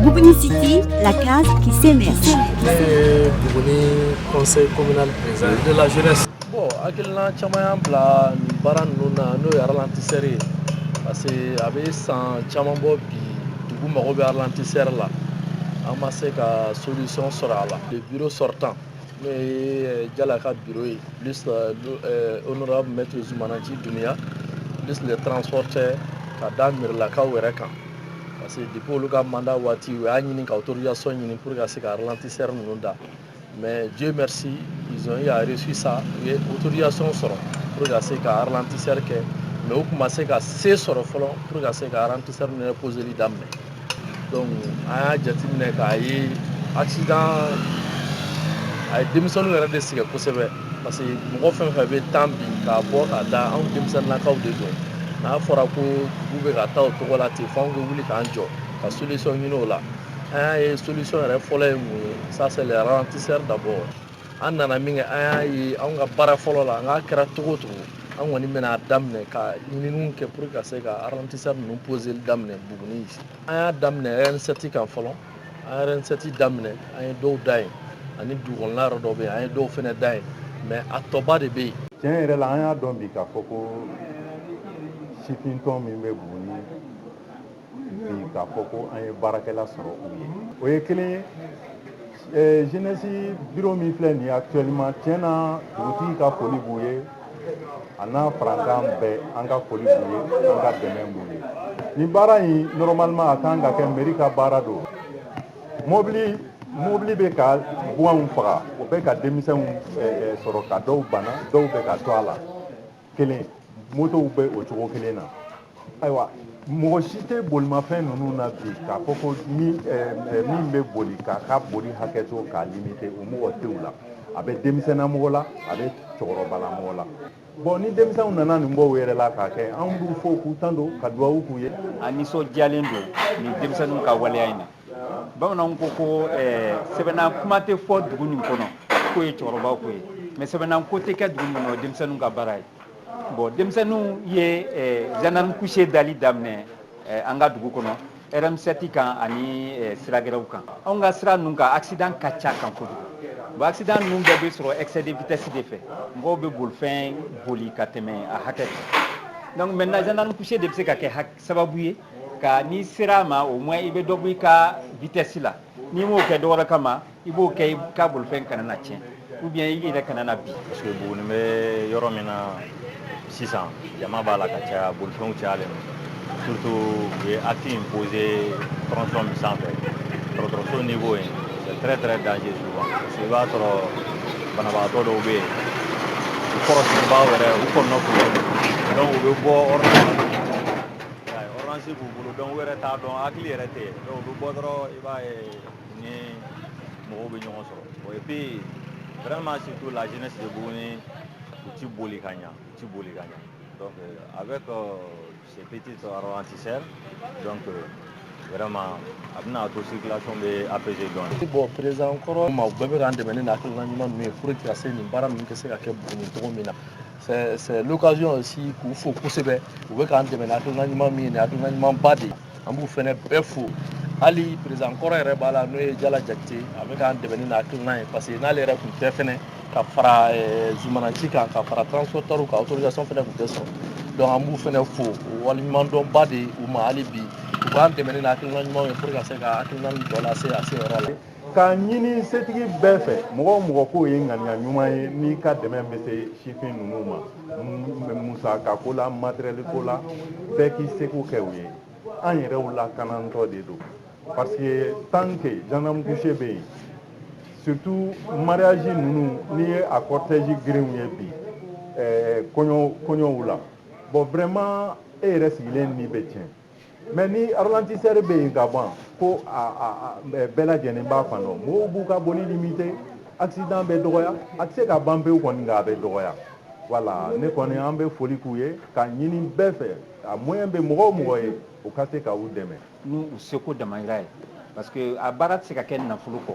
Bougouni City, la case qui s'émerge. Euh, Bougouni, conseil communal président de la jeunesse. Bon, hakilina caman y'an bila nin baara ninnu na n'o ye ralentisseur ye parce que a bɛ san caman bɔ bi dugu mago bɛ ralentisseur la an ma se ka solution sɔrɔ a la le bureau sortant n'o ye jala ka biro ye oɔrɔnra tun bɛ to zmananci dunya tun transport cɛ ka da mlakaw wɛrɛ kan parce que dep olu ka manda waati u y'a ɲini ka toya sɔn ɲini pur ka se ka tɛsɛ ninnu da mɛ jo bɛ siɔnresi sa u ye utoya sɔn sɔrɔ pur ka se ka tisɛri kɛ mɛ u tun se ka sen sɔrɔ fɔlɔ pur ka se ka kisɛri minɛ psili daminɛ Donc an y'a jateminɛ k'a ye accident a ye denmisɛnninw yɛrɛ de sɛgɛn kosɛbɛ parce que mɔgɔ fɛn o fɛn bɛ tan bi k'a bɔ k'a da anw denmisɛnninnakaw de don n'a fɔra ko dugu bɛ ka taa o cogo la ten f'anw bɛ wuli k'an jɔ ka solution ɲini o la an y'a ye solution yɛrɛ fɔlɔ ye mun ye ça c'est les ralentisseurs d'abord an nana min kɛ an y'a ye anw ka baara fɔlɔ la n'a kɛra cogo o cogo an kɔni bɛna a daminɛ ka ɲininiw kɛ pour ka se ka ralentisseur ninnu poseli daminɛ Bougouni an y'a daminɛ RN7 kan fɔlɔ an ye RN7 daminɛ an ye dɔw da yen ani dugukɔnɔla yɔrɔ dɔw bɛ yen an ye dɔw fana da yen mɛ a tɔba de bɛ yen tiɲɛ yɛrɛ la an y'a dɔn bi k'a fɔ ko sifintɔn min bɛ Bougouni bi k'a fɔ ko an ye baarakɛla sɔrɔ u ye o ye kelen ye eh, jeunesse bureau min filɛ nin ye actuellement tiɲɛ na dugutigi ka foli b'u ye a n'a farankan bɛɛ an ka foli b'u ye an ka dɛmɛ b'u ye nin baara in normalement a ka kan ka kɛ mairie ka baara don mobili mobili bɛ ka baganw faga o bɛ ka denmisɛnw eh, eh, sɔrɔ ka dɔw bana dɔw bɛ ka to a la kelen motow bɛ o cogo kelen na ayiwa mɔgɔ si tɛ bolimafɛn ninnu na bi k'a fɔ ko min bɛ boli k'a ka boli hakɛ to k'a limite o mɔgɔ t'u la a bɛ denmisɛnninna mɔgɔ la a bɛ cɛkɔrɔbala mɔgɔ la bon ni denmisɛnw nana nin bɔ u yɛrɛ la k'a kɛ anw b'u fo k'u tando ka dugawu k'u ye an nisɔndiyalen don nin denmisɛnninw ka waleya in na bamananw ko ko sɛbɛnna kuma tɛ fɔ dugu min kɔnɔ k'o ye cɛkɔrɔba ko ye mɛ sɛbɛnna ko tɛ kɛ dugu min kɔnɔ denmisɛnnin ka baara ye bon denmisɛnninw ye gendarme couché dali daminɛ an ka dugu kɔnɔ RN7 kan ani siragɛrɛw kan anw ka sira ninnu kan accident ka ca a kan kojugu bon accident ninnu bɛɛ bɛ sɔrɔ excès de vitesse de fɛ mɔgɔw bɛ bolifɛn boli ka tɛmɛ a hakɛ donc maintenant gendarme couché de bɛ se ka kɛ hakɛ sababu ye ka n'i sera a ma au moins i bɛ dɔ bɔ i ka vitesse la n'i m'o kɛ dɔwɛrɛ kama i b'o kɛ i ka bolifɛn kana na tiɲɛ ou bien i yɛrɛ kana na bin parce que buguni bɛ yɔrɔ min na sisan jama b'a la ka caya bolifɛnw cayalen don surtout u ye acte in poser tronçon min sanfɛ dɔgɔtɔrɔso niveau ye très très dangereux souvent parce que i b'a sɔrɔ banabagatɔ dɔw bɛ yen u kɔrɔsigibaw yɛrɛ u kɔnɔgannen bɛ donc u bɛ bɔ ordonnance ordonnance b'u bolo donc u yɛrɛ t'a dɔn hakili yɛrɛ tɛ donc u bɛ bɔ dɔrɔn i b'a ye ni mɔgɔw bɛ ɲɔgɔn sɔrɔ bon et puis vraiment surtout la jeunesse de Buguni u ti boli ka ɲa u ti boli ka ɲa donc avec euh, Ces petits ralentisseurs, donc euh, vraiment a bɛna to circulation bɛ apaiser dɔɔni. Bon président Kɔrɔma u bɛɛ bɛ k'an dɛmɛ ni nin hakilina ɲuman ninnu ye pour que ka se nin baara ninnu ka se ka kɛ Buguni cogo min na. C'est c'est l'occasion aussi k'u fo kosɛbɛ u bɛ k'an dɛmɛ ni hakilina ɲuman min ye nin hakilina ɲumanba de ye. an b'u fɛnɛ bɛɛ fo hali président kɔrɔ yɛrɛ b'a la n'o ye Jala Jakite a bɛ k'an dɛmɛ n'a hakilina ye parce que n'ale yɛrɛ tun tɛ fɛnɛ ka fara eh, Zumana Nci kan ka fara transportɛriw kan autorisation fɛnɛ tun tɛ sɔrɔ donc an b'u fɛnɛ fo waleɲumandɔnba de u ma hali bi u k'an dɛmɛ ni hakilina ɲumanw ye pour ka se ka hakilina in tɔ lase a se yɔrɔ la K'a ɲini setigi bɛɛ fɛ mɔgɔ o mɔgɔ k'o ye ŋaniya ɲuman ye n'i ka dɛmɛ bɛ se sifin ninnu ma musaka ko la materiyɛli ko la bɛɛ k'i seko kɛ o ye an yɛrɛw lakanatɔ de don parce que tant que gendarme couché bɛ yen surtout mariage ninnu n'i ye a cortège girinw ye bi kɔɲɔw la bon vraiment e yɛrɛ sigilen ni bɛ tiɲɛ Mais ni ralentisseur bɛ yen ka ban ko bɛɛ lajɛlen b'a fan dɔn mɔgɔw b'u ka boli limiter accident bɛ dɔgɔya a tɛ se ka ban pewu kɔni a bɛ dɔgɔya voilà ne kɔni an bɛ foli k'u ye k'a ɲini bɛɛ fɛ a moyen bɛ mɔgɔ o mɔgɔ ye o ka se k'u dɛmɛ n'u seko damayira ye parce que a baara tɛ se ka kɛ nafolo kɔ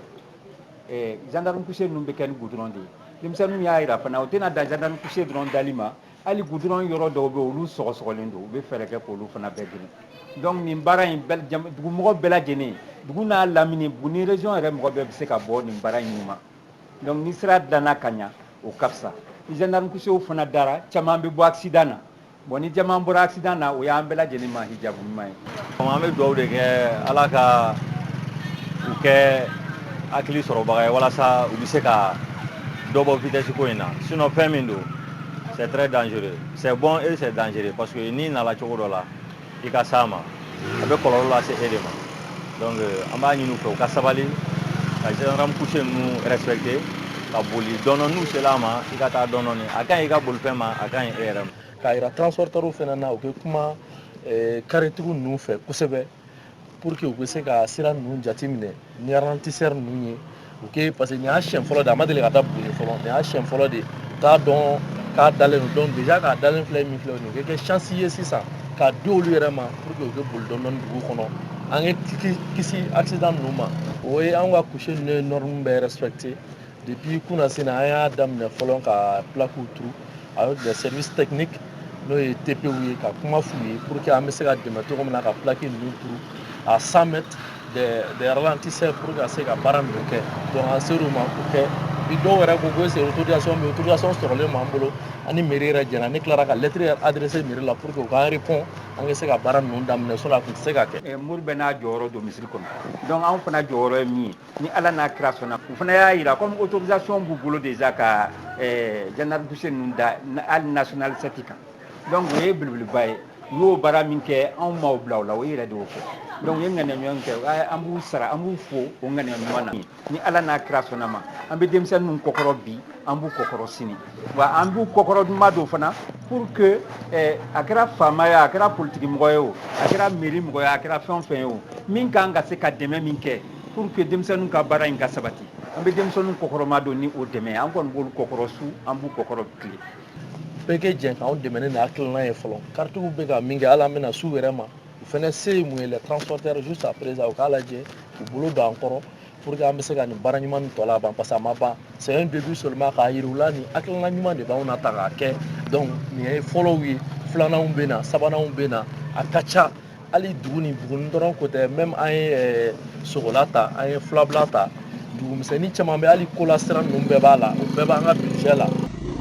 gendarme couché ninnu bɛ kɛ ni goudron de ye denmisɛnninw y'a jira fana u tɛna dan gendarme couché dɔrɔn dali ma Hali goudron yɔrɔ dɔw bɛ olu sɔgɔsɔgɔlen don u bɛ fɛɛrɛ kɛ k'olu fana bɛɛ dilan donc nin baara in dugumɔgɔ bɛɛ lajɛlen dugu n'a lamini Buguni région yɛrɛ mɔgɔ bɛɛ bɛ se ka bɔ nin baara in nunma donc ni sira dilanna ka ɲa o ka fisa ni gendarme couchéw fana dara caman bɛ bɔ accident na bon ni caman bɔra accident na o y'an bɛɛ lajɛlen ma hijabu ɲuman ye An bɛ dugawu de kɛ ala ka u kɛ hakili sɔrɔbaga ye walasa u bɛ se ka dɔ bɔ vitesse ko in na sinon fɛn min don c'est très dangereux c'est bon eh c'est dangereux parce que ni i nana cogo dɔ la i ka se a ma a bɛ kɔlɔlɔ lase e de ma donc an b'a ɲini u fɛ u ka sabali ka gendarme couché ninnu respecter ka boli dɔɔni n'u sera a ma i ka taa dɔɔni a ka ɲi i ka bolifɛn ma a ka ɲi e yɛrɛ ma k'a yira transporteurs fana na u bɛ kuma karitigiw eh, ninnu fɛ kosɛbɛ pour que u bɛ se ka sira ninnu jateminɛ ni ralentisseur ninnu ye u kɛ parce que nin y'a siɲɛ fɔlɔ de a ma deli ka da buguni fɔlɔ nin y'a siɲɛ fɔlɔ de t'a dɔn k'a dalen don donc déjà k'a dalen filɛ min filɛ nin ye o kɛ chance ye sisan k'a di olu yɛrɛ ma pour que u bɛ boli dɔɔni dɔɔni dugu kɔnɔ an ye kisi accident ninnu ma o ye an ka couché ninnu ye norme bɛɛ respecter Depuis kunasini an y'a daminɛ fɔlɔ ka plakiw turu a y'o bila service technique n'o ye TPw ye ka kuma f'u ye pour que an bɛ se ka dɛmɛ cogo min na ka plaki ninnu turu à 100 mètres des, des ralentisseurs pour que ka se ka baara ninnu kɛ donc an ser'u ma k'o kɛ bi dɔw yɛrɛ ko ko est ce que autorisation bɛ autorisation sɔrɔlen b'an bolo ani mairie yɛrɛ jɛna ne tilara ka lettre yɛrɛ adressé mairie la pour que u k'an répond an ka se ka baara ninnu daminɛ sinon a tun tɛ se ka kɛ. Mori bɛɛ n'a jɔyɔrɔ don misiri kɔnɔ donc anw fana jɔyɔrɔ ye min ye ni ala n'a kira sɔnna u fana y'a yira ko autorisation b'u bolo déjà ka gendarme couché ninnu da hali nationale 7 kan donc o ye belebeleba ye u y'o baara min kɛ anw maaw bila la o e yɛrɛ de' fɔ donc u ye ŋaniya ɲuman kɛ an b'u sara an b'u fo o ŋaniya ɲuman na ni ala n'a kira sɔnna ma an bɛ denmisɛn ninnu kɔkɔrɔ bi an b'u kɔkɔrɔ sini wa an b'u kɔkɔrɔmadon fana pour que a kɛra faama ye a kɛra politigimɔgɔ ye o a kɛra mairie mɔgɔ a kɛra fɛn fɛn ye o min ka kan ka se ka dɛmɛ min kɛ pour que denmisɛnninw ka baara in ka sabati an bɛ denmisɛnninw kɔkɔrɔmadon ni o dɛmɛ an kɔni b'olu kɔkɔrɔ su an b'u kɔkɔrɔ tile bɛɛ ka jɛ k'anw dɛmɛ ni hakilina ye fɔlɔ karitigiw bɛ ka min kɛ hali an bɛna su yɛrɛ ma u fana se ye min ye le transporteur juste après u k'a lajɛ u bolo don an kɔrɔ pour que an bɛ se ka nin baara ɲuman nin tɔ laban parce que a ma ban c'est un début seulement k'a yira u la nin hakilina ɲuman de b'anw na ta k'a kɛ donc nin ye fɔlɔw ye filananw bɛ na sabananw bɛ na a ka ca hali dugu ni bugun dɔrɔn ko tɛ même an ye eh, sogola ta an ye filabula ta dugumisɛnnin caman bɛ hali kola sira ninnu bɛɛ b'a la o bɛɛ b'an ka budget la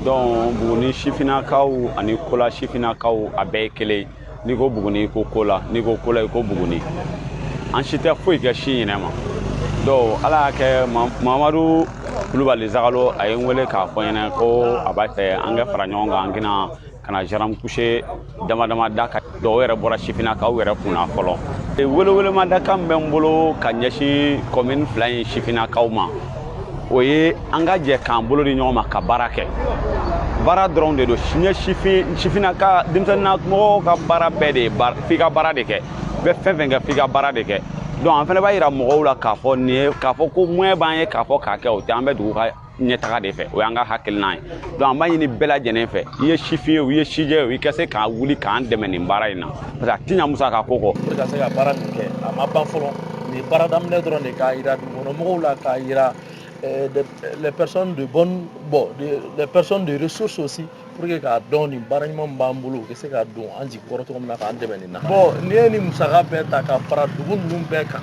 donc buguni sifinnakaw ani kola sifinnakaw a bɛɛ ye kelen n'i ko buguni i ko kola n'i ko kola i ko buguni an si tɛ foyi kɛ si ɲinɛ ma donc ala y'a kɛ mamadu kulubali zagalo a ye n wele k'a fɔ n ɲɛna ko a b'a fɛ an ka fara ɲɔgɔn kan an ka na ka na gendarme couché dama dama da ka dɔw yɛrɛ bɔra sifinnakaw yɛrɛ kun na fɔlɔ welewelemadakan bɛ n bolo ka ɲɛsin kɔmini fila in sifinnakaw ma o ye an ka jɛ k'an bolo di ɲɔgɔn ma ka baara kɛ baara dɔrɔn de don siɲɛ sifin sifinnaka denmisɛnninna mɔgɔw ka baara bɛɛ de ye f'i ka baara de kɛ bɛ fɛn fɛn kɛ f'i ka baara de kɛ donc an fana b'a yira mɔgɔw la k'a fɔ nin ye k'a fɔ ko moyen b'an ye k'a fɔ k'a kɛ o tɛ an bɛ dugu ka ɲɛtaga de fɛ o y'an ka hakilinan ye donc an b'a ɲini bɛɛ lajɛlen fɛ i ye sifin ye o i ye sijɛ ye o i ka se ka wuli k'an dɛmɛ nin baara in na parce que a ti ɲa musaka ko kɔ pour ka se ka baara nin kɛ a ma ban fɔlɔ nin baara daminɛ dɔrɔn de k'a yira dugukɔnɔmɔgɔw la k'a yira les personnes de bonne bon les personnes de ressources aussi pour que k'a dɔn nin baara ɲuman b'an bolo u bɛ se ka don an jigi kɔrɔ cogo min na k'an dɛmɛ nin na bon n'i ye nin musaka bɛɛ ta ka fara dugu ninnu bɛɛ kan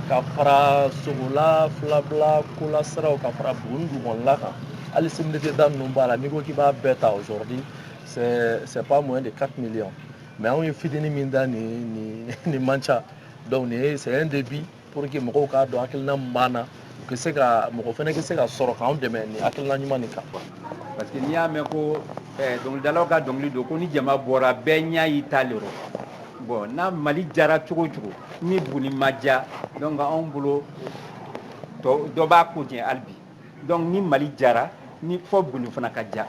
ka fara sogola filabila kolasiraw ka fara buguni dugukɔnɔla kan hali cimetière da ninnu b'a la n'i ko k'i b'a bɛɛ ta aujourd'hui c'est pas moins de 4 millions mais anw ye fitini min da nin nin nin man ca donc nin ye c'est un début Pour que mɔgɔw k'a dɔn hakilina min b'an na, u ka se ka, mɔgɔ fana ka se ka sɔrɔ k'anw dɛmɛ ni hakilina ɲuman nin kan. Parce que n'i y'a mɛn ko ɛɛ dɔnkilidalaw ka dɔnkili don ko ni jama bɔra bɛɛ ɲɛ y'i ta le rɔ. Bon n'a Mali jara cogo o cogo ni Buguni ma diya donc anw bolo dɔ b'a ko jɛ hali bi. donc ni mali jara ni fɔ buguni fana ka ja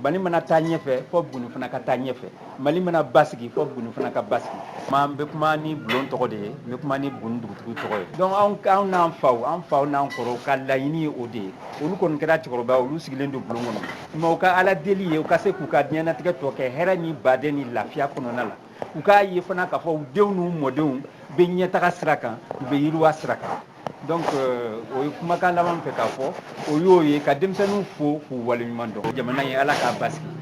mali mana taa ɲɛfɛ fɔ buguni fana ka taa ɲɛfɛ mali mana basigi fɔ buguni fana ka basigi n bɛ kuma ni bulon tɔgɔ de ye n bɛ kuma ni buguni dugutigi tɔgɔ ye donc anw n'an faw an faw n'an kɔrɔw ka laɲini ye o de ye olu kɔni kɛra cɛkɔrɔba olu sigilen don bulon kɔnɔ nka u ka ala deli ye u ka se k'u ka diɲɛnatigɛ tɔ kɛ hɛrɛ ni baden ni lafiya kɔnɔna la u k'a ye fana k'a fɔ u denw n'u mɔdenw bɛ ɲɛtaga sira kan u bɛ yiriwa sira kan donc euh, o ye kumakan laban fɛ k'a fɔ o y'o ye ka denmisɛnninw fo k'u waleɲuman dɔn jamana ye ala k'a basigi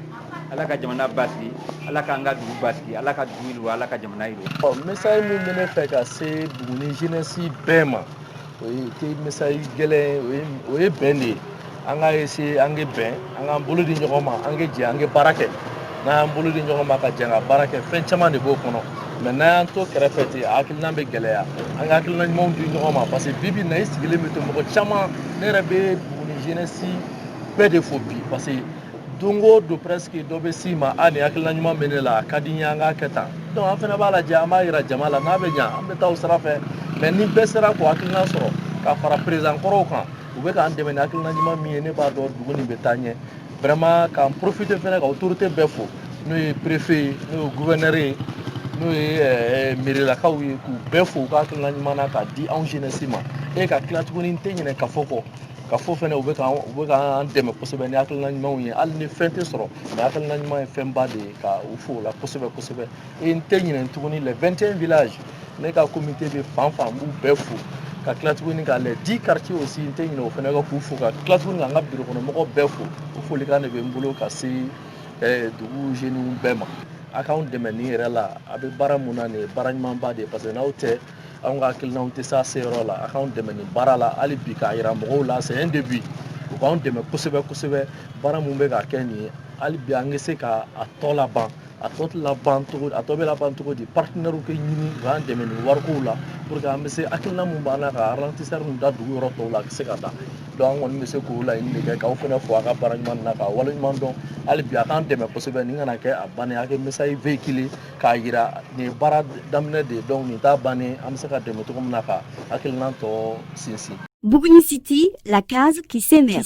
ala ka jamana basigi ala k'an ka dugu basigi ala ka dugu yiriwa ala ka jamana yiriwa ɔ message min bɛ ne fɛ ka se buguni jeunesse bɛɛ ma O tɛ message gɛlɛn ye o ye bɛn de ye an ka ye se an ka bɛn an k'an bolo di ɲɔgɔn ma an ka jɛ an ka baara kɛ n'an y'an bolo di ɲɔgɔn ma ka jɛ ka baara kɛ fɛn caman de b'o kɔnɔ mais n'an y'an to kɛrɛfɛ ten a hakilina bɛ gɛlɛya an ka hakilina ɲumanw di ɲɔgɔn ma parce que bibi na i sigilen bɛ to mɔgɔ caman ne yɛrɛ bɛ dugu nin jeunesse bɛɛ de fo bi parce don o don presque dɔ bɛ s'i ma a nin hakilina ɲuman bɛ ne la a ka di n ye an k'a kɛ tan donc an fana b'a lajɛ an b'a jira jama la n'a bɛ ɲa an bɛ taa o sira fɛ mais ni bɛɛ sera k'o hakilina sɔrɔ ka fara président kɔrɔw kan u bɛ k'an dɛmɛ ni hakilina ɲuman min ye ne b'a dɔn dugu nin bɛ taa ɲɛ vraiment k'an profiter fana ka autorité bɛɛ fo n'o ye préfet ye n'o ye gouverneur ye n'o ye eh, merilakaw ye k'u bɛɛ fo u ka hakilina ɲuman na k'a di anw jeunesse ma e ka tila tuguni n tɛ ɲinɛ kafo kɔ kafo fana u bɛ ka u bɛ k'an dɛmɛ kosɛbɛ ni hakilina ɲumanw ye hali ni fɛn tɛ sɔrɔ mais hakilina ɲuman ye fɛnba de ye ka u fo o la kosɛbɛ kosɛbɛ e n tɛ ɲinɛ tuguni les 21 villages ne ka comité bɛ fan o fan n b'u bɛɛ fo ka tila tuguni ka les 10 quartiers aussi n tɛ ɲinɛ o fana kɔ k'u fo ka tila tuguni ka n ka biro kɔnɔ mɔgɔ bɛɛ fo o folikan de bɛ n bolo ka se eh, dugu jeunes bɛɛ ma a k'anw dɛmɛ nin yɛrɛ la an bɛ baara min na nin ye baara ɲumanba de ye parce que n'aw tɛ Anw ka hakilina tɛ se se yɔrɔ la a k'an dɛmɛ nin baara la hali bi k'a jira mɔgɔw la sɛ de bi u k'an dɛmɛ kosɛbɛ kosɛbɛ baara min bɛ ka kɛ nin ye hali bi an bɛ se k'a tɔ laban a tɔ labancogo a tɔ bɛ laban cogo di partenairew kɛ ɲini u k'an dɛmɛ ni warikow la pour que an bɛ se hakilina min b'an na ka tisa min da dugu yɔrɔ tɔw la a bɛ se ka taa dɔn an kɔni bɛ se k'o laɲini kɛ k'aw fana fo a ka baara ɲuman na k'a waleɲumandɔn hali bi a k'an dɛmɛ kosɛbɛ nin kana kɛ a ban a kɛ misa ye v kelen k'a jira nin ye baara daminɛ de ye donc nin t'a bannen an bɛ se ka dɛmɛ cogo min na ka hakilinan tɔ sinsin. Buguni City, la case qui s'émerge.